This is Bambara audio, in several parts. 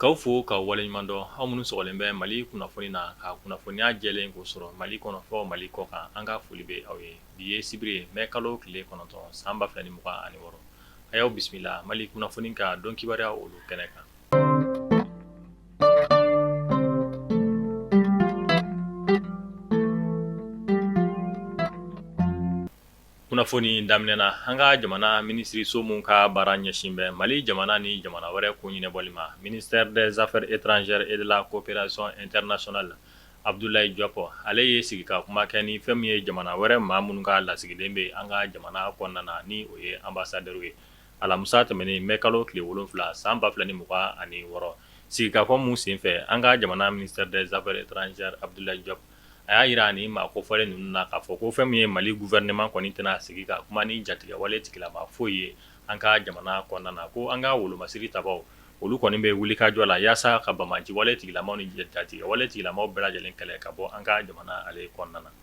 K'aw fo ka waleɲuman dɔn aw minnu sɔgɔlen bɛ Mali kunnafoni na ka kunnafoniya jɛlen ko sɔrɔ Mali kɔnɔ fɔ Mali kɔ kan an ka foli bɛ aw ye bi ye sibiri ye mai kalo tile kɔnɔntɔn san ba fila ni mugan ani wɔɔrɔ a y'aw bisimila Mali kunnafoni ka dɔn kibaruya olu kɛnɛ kan. kunnafoni daminɛna an ka jamana minisiriso min ka baara ɲɛsin bɛ Mali jamana ni jamana wɛrɛ ko ɲɛnabɔli ma ministère des affaires étrangères et de la coopération internationale Abdoulaye Diop ale ye sigi ka kuma kɛ ni fɛn min ye jamana wɛrɛ maa minnu ka lasigiden bɛ an ka jamana kɔnɔna na ni o ye ambassadeur ye alamisa tɛmɛnen mai kalo tile wolonfila san ba fila ni mugan ani wɔɔrɔ sigikafɔ min senfɛ an ka jamana ministère des affaires étrangères Abdoulaye Diop a y'a jira ni maa ko fɔlen ninnu na k'a fɔ ko fɛn min ye Mali gouvernement kɔni tɛna sigi ka kuma ni jatigɛwale tigilama foyi ye an ka jamana kɔnɔna na ko an ka wolomasiri tabaw olu kɔni bɛ wuli ka jɔ la yaasa ka banbaanciwale tigilamaw ni jatigɛwale tigilamaw bɛɛ lajɛlen kɛlɛ ka bɔ an ka jamana ale kɔnɔna na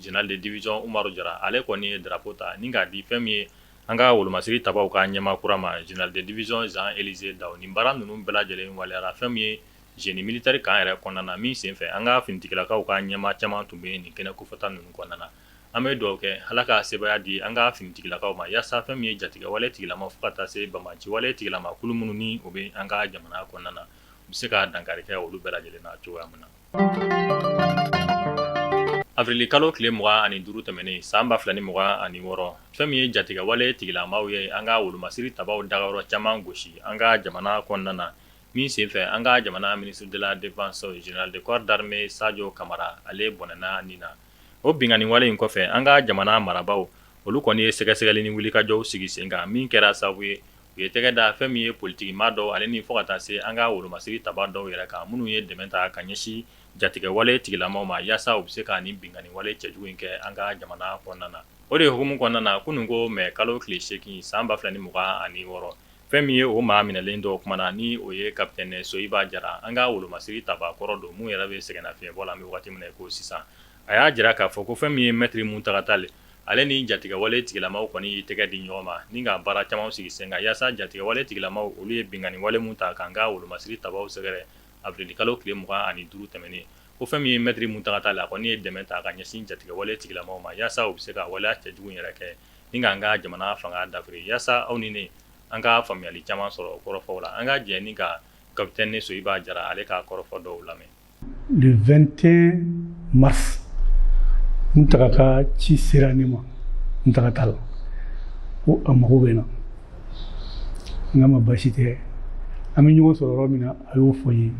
Général de division Umaru Jara ale kɔni ye drapeau ta ni k'a di fɛn min ye an ka wolomasiri tabaw ka ɲɛmaa kura ma général de division Jean Élisée Dao nin baara ninnu bɛɛ lajɛlen waleyara fɛn min ye génie militaire kan yɛrɛ kɔnɔna na min senfɛ an ka finitigilakaw ka ɲɛmaa caman tun bɛ nin kɛnɛ kofɔta ninnu kɔnɔna na an bɛ dugawu kɛ Ala ka sebaaya di an ka finitigilakaw ma yaasa fɛn min ye jatigɛwale tigilama fo ka taa se banbaanciwale tigilama kulu minnu ni o bɛ an ka jamana kɔnɔna na u bɛ se ka dankari kɛ olu bɛɛ lajɛlen na cogoya min na Avril kalo tile mugan ani duuru tɛmɛnen san ba fila ni mugan ani wɔɔrɔ fɛn min ye jatigɛwale tigilamaw ye an ka wolomasiri tabaw dagayɔrɔ caman gosi an ka jamana kɔnɔna na min senfɛ an ka jamana ministre de la défense général de corps d'armée Sajo Kamara ale bɔnɛna nin na o binkanniwale in kɔfɛ an ka jamana marabaw olu kɔni ye sɛgɛsɛgɛli ni wulikajɔw sigi sen kan min kɛra sababu ye u ye tɛgɛ da fɛn min ye politiki maa dɔw ale ni fo ka taa se an ka wolomasiri taba dɔw yɛrɛ kan minnu ye dɛmɛ ta ka ɲɛsin jatigɛwale tigilamaw ma yaasa u bɛ se ka nin binkanniwale cɛjugu in kɛ an ka jamana kɔnɔna na o de hukumu kɔnɔna na kunun ko mɛ kalo tile seegin san ba fila ni mugan ani wɔɔrɔ fɛn min ye o maa minɛlen dɔ kumana na ni o ye capitaine Soyiba Jara an ka wolomasiri taba kɔrɔ don min yɛrɛ bɛ sɛgɛnnafiɲɛbɔ la an bɛ waati min na ko sisan a y'a jira k'a fɔ ko fɛn min ye maître Mountaga Tall ale ni jatigɛwale tigilamaw kɔni ye tɛgɛ di ɲɔgɔn ma ni ka baara caman sigi sen kan yaasa jatigɛwale tigilamaw olu ye binkanniwale min ta k'an ka wolomasiri tabaw sɛgɛrɛ avril kalo tile mugan ani duuru tɛmɛnen ko fɛn min ye maître Mountaga Tall a kɔni ye dɛmɛ ta ka ɲɛsin jatigɛwale tigilamaw ma yaasa u bɛ se ka waleya cɛjugu yɛrɛ kɛ ni k'an ka jamana fanga dafiri yaasa aw ni ne an ka faamuyali caman sɔrɔ kɔrɔfɔw la an ka jɛ ni ka capitaine Soyiba Jara ale ka kɔrɔfɔ dɔw lamɛn le 21 mars muntaga ka ci sera ne ma muntaga tali ko a mago bɛ n na n k'a ma baasi tɛ an bɛ ɲɔgɔn sɔrɔ yɔrɔ min na a y'o fɔ n ye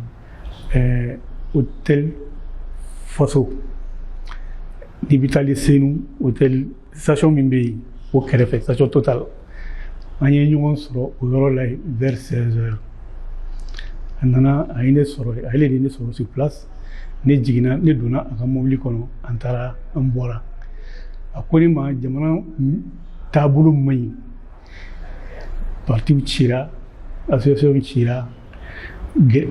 ɛɛ hôtel faso n'i bɛ taali senu hôtel station min bɛ yen o kɛrɛfɛ station total an ye ɲɔgɔn sɔrɔ o yɔrɔ la yen vers 16 heures a nana a ye ne sɔrɔ yen ale de ye ne sɔrɔ sur place ne jiginna ne donna a ka mobili kɔnɔ an taara an bɔra a ko ne ma jamana taabolo man ɲi partiw cira association cira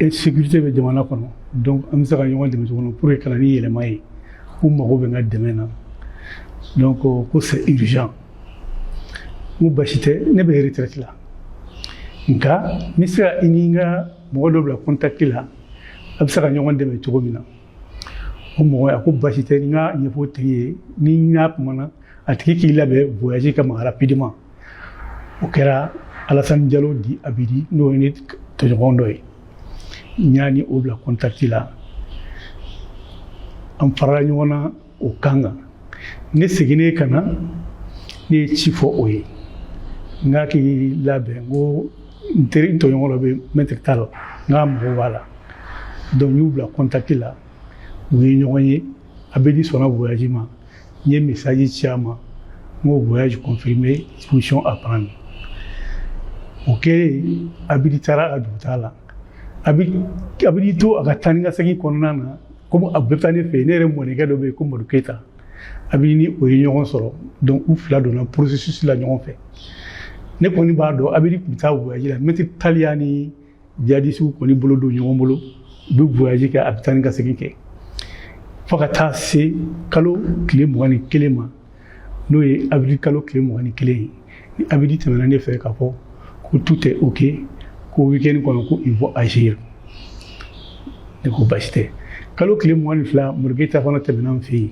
insécurité bɛ jamana kɔnɔ donc an bɛ se ka ɲɔgɔn dɛmɛ cogo min pour que ka na ni yɛlɛma ye u mago bɛ n ka dɛmɛ na donc ko c'est urgent n ko basi tɛ ne bɛ retraite la nka n bɛ se ka i ni n ka mɔgɔ dɔ bila contact la a bɛ se ka ɲɔgɔn dɛmɛ cogo min na o mɔgɔ a ko basi tɛ n k'a ɲɛfɔ o tigi ye ni n y'a kumana a tigi k'i labɛn voyage kama rapidement o kɛra alasan jalo dit abidi n'o ye ne tɔɲɔgɔn dɔ ye n y'a ni o bila kɔntakiti la an farala ɲɔgɔn na o kan kan ne seginnen ka na ne ye ci fɔ o ye n k'a k'i labɛn n ko n teri n tɔɲɔgɔn dɔ bɛ mɛtiri tali n k'a mago b'a la donc n y'u bila kɔntakiti la u ye ɲɔgɔn ye abidi sɔnna voyaji ma n ye mesaji ci a ma n ko voyage confirmé disposition à prendre o kɛlen abidi taara a ka dugutaa la abidi to a ka taa ni ka segin kɔnɔna na komi a bɛ taa ne fɛ yen ne yɛrɛ mɔdenkɛ dɔ bɛ yen ko madu keyita abidi ni o ye ɲɔgɔn sɔrɔ donc u fila donna processus la ɲɔgɔn fɛ ne kɔni b'a dɔn abidi tun bɛ taa voyage la mɛtiri tali a ni jihadisiw kɔni bolo don ɲɔgɔn bolo u bɛ voyaji kɛ a bɛ taa ni ka segin kɛ fo ka taa se kalo tile mugan ni kelen ma n'o ye awirili kalo tile mugan ni kelen ye ni abidi tɛmɛna ne fɛ k'a fɔ ko tout est ok ko wikɛni kɔnɔ ko ils vont agir ne ko basi tɛ kalo tile mugan ni fila madu keyita fana tɛmɛna n fɛ yen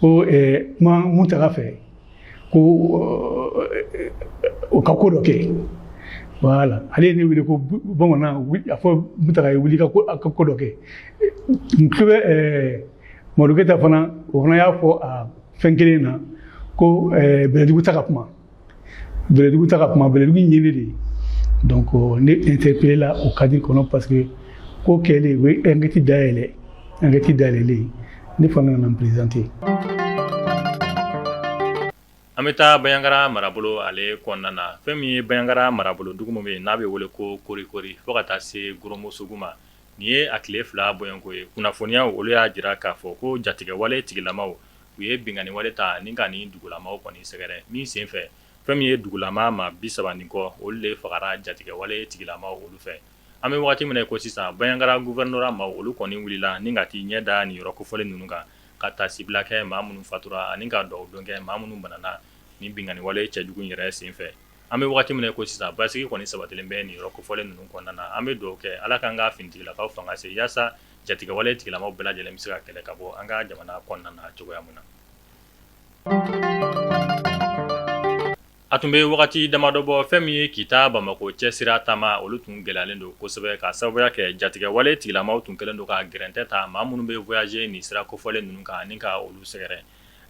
ko kuma muntaga fɛ ko o ka ko dɔ kɛ voilà ale ye ne wele ko bamanan a fɔ muntaga ye wuli ka ko dɔ kɛ n tulo bɛ madu keyita fana o fana y'a fɔ a fɛn kelen na ko bɛlɛdugu taa ka kuma bɛlɛdugu ta ka kuma bɛlɛdugu in yeli de donc euh, ne interpellé la o cadre kɔnɔ parce que ko kɛlen u ye enquête dayɛlɛ enquête dayɛlɛlen ne fana nana n présenter an bɛ taa banyagara marabolo ale kɔnɔna na fɛn min ye banyagara marabolo dugu min bɛ yen n'a bɛ wele ko korikori fo ka taa se goromosogu ma nin ye a tile fila bɔɲɔgɔnko ye kunnafoniyaw olu y'a jira k'a fɔ ko jatigɛwale tigilamaw u ye binkanni wale ta ni ka nin dugulamaw kɔni sɛgɛrɛ min sen fɛ fɛn min ye dugulama maa bi saba ni kɔ olu de fagara jatigɛwale tigilamaw olu fɛ an bɛ waati min ko sisan banyagara gouverneur maaw olu kɔni wulila ni ka taa i ɲɛ da nin yɔrɔ kofɔlen ninnu kan ka taasibila kɛ maa minnu fatura ani ka dugawu don kɛ maa minnu banana ni binkanni wale cɛjugu yɛrɛ sen fɛ an bɛ waati min ko sisan basigi kɔni sabatilen bɛ nin yɔrɔ kofɔlen ninnu kɔnɔna na an bɛ dugawu kɛ ala k'an ka finitigilakaw fanga se yaasa jatigɛwale tigilamaw bɛɛ lajɛlen bɛ se ka kɛlɛ ka bɔ an ka jamana kɔnɔna na cogoya min na a tun bɛ wagati damadɔ bɔ fɛn min ye kita bamakɔ cɛ sira taama olu tun gɛlɛyalen don kosɛbɛ k'a sababuya kɛ jatigɛwale tigilamaw tun kɛlen don ka gɛrɛntɛ ta maa minnu bɛ voyager nin sira kofɔlen ninnu kan ani ka olu sɛgɛrɛ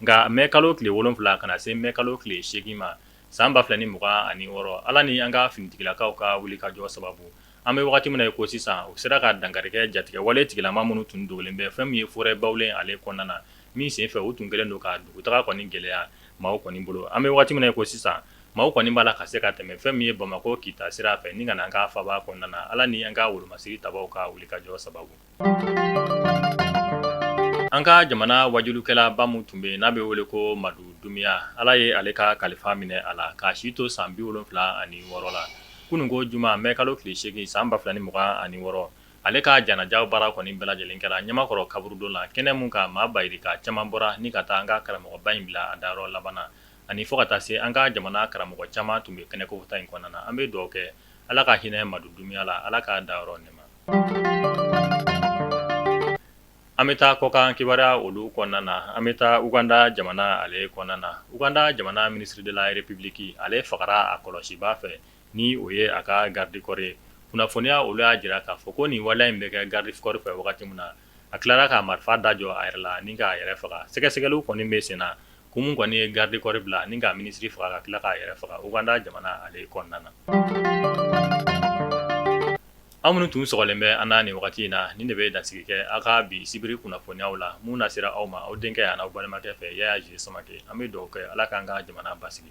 nka mɛ kalo tile wolon wolonwula kana na se mɛ kalo tile seegin ma san ba fila ni mugan ani wɔɔrɔ ala ni an ka finitigilakaw ka wuli ka jɔ sababu An bɛ waati min na i ko sisan u sera ka dankari kɛ jatigɛwale tigilama minnu tun dogolen bɛ fɛn min ye forêt bawule ale kɔnɔna na min sen fɛ u tun kɛlen don ka dugutaa kɔni gɛlɛya maaw kɔni bolo an bɛ waati min ko sisan maaw kɔni b'a la ka se ka tɛmɛ fɛn min ye bamakɔ kita sira fɛ ni ka na an ka faaba kɔnɔna na ala ni an ka wolomasiri tabaw ka wuli ka jɔ sababu An ka jamana waajulikɛlaba min tun bɛ yen n'a bɛ wele ko madu dumuya ala ye ale ka kalifa minɛ a la k'a si to san bi wolonfila ani wɔɔrɔ la kunun ko juma mɛ kalo tile seegin san ba fila ni mugan ani wɔɔrɔ ale ka janajaw baara kɔni bɛɛ lajɛlen kɛra ɲamakɔrɔ kaburudon la kɛnɛ min kan maa bayirika caman bɔra ni ka taa an ka karamɔgɔba in bila a dayɔrɔ laban na ani fo ka taa se an ka jamana karamɔgɔ caman tun bɛ kɛnɛ kofɔta in kɔnɔna na an bɛ dugawu kɛ ala ka hinɛ madu dumuya la ala k'a dayɔrɔ nɛɛma an bɛ taa kɔkan kibaruyaw olu kɔnɔna na an bɛ taa uganda jamana ale kɔnɔna na uganda jamana ministre de la république ale fagara a kɔlɔsibaa fɛ ni o ye a ka garidikɔri ye kunnafoniya olu y'a jira k'a fɔ ko nin waleya in bɛ kɛ garidikɔri fɛ wagati min na a tilara k'a marifa da jɔ a yɛrɛ la ni k'a yɛrɛ faga sɛgɛsɛgɛli kɔni bɛ sen na kun min kɔni ye garidikɔri bila ni k'a minisiri faga ka tila k'a yɛrɛ faga uganda jamana ale kɔnɔna na an minnu tun sɔgɔlen bɛ an na nin wagati in na nin de bɛ dansigi kɛ aw ka bi sibiri kunnafoniyaw la min nasera aw ma aw denkɛ ani aw balimakɛ fɛ yaya ji samakɛ an bɛ dugawu kɛ ala k'an ka jamana basigi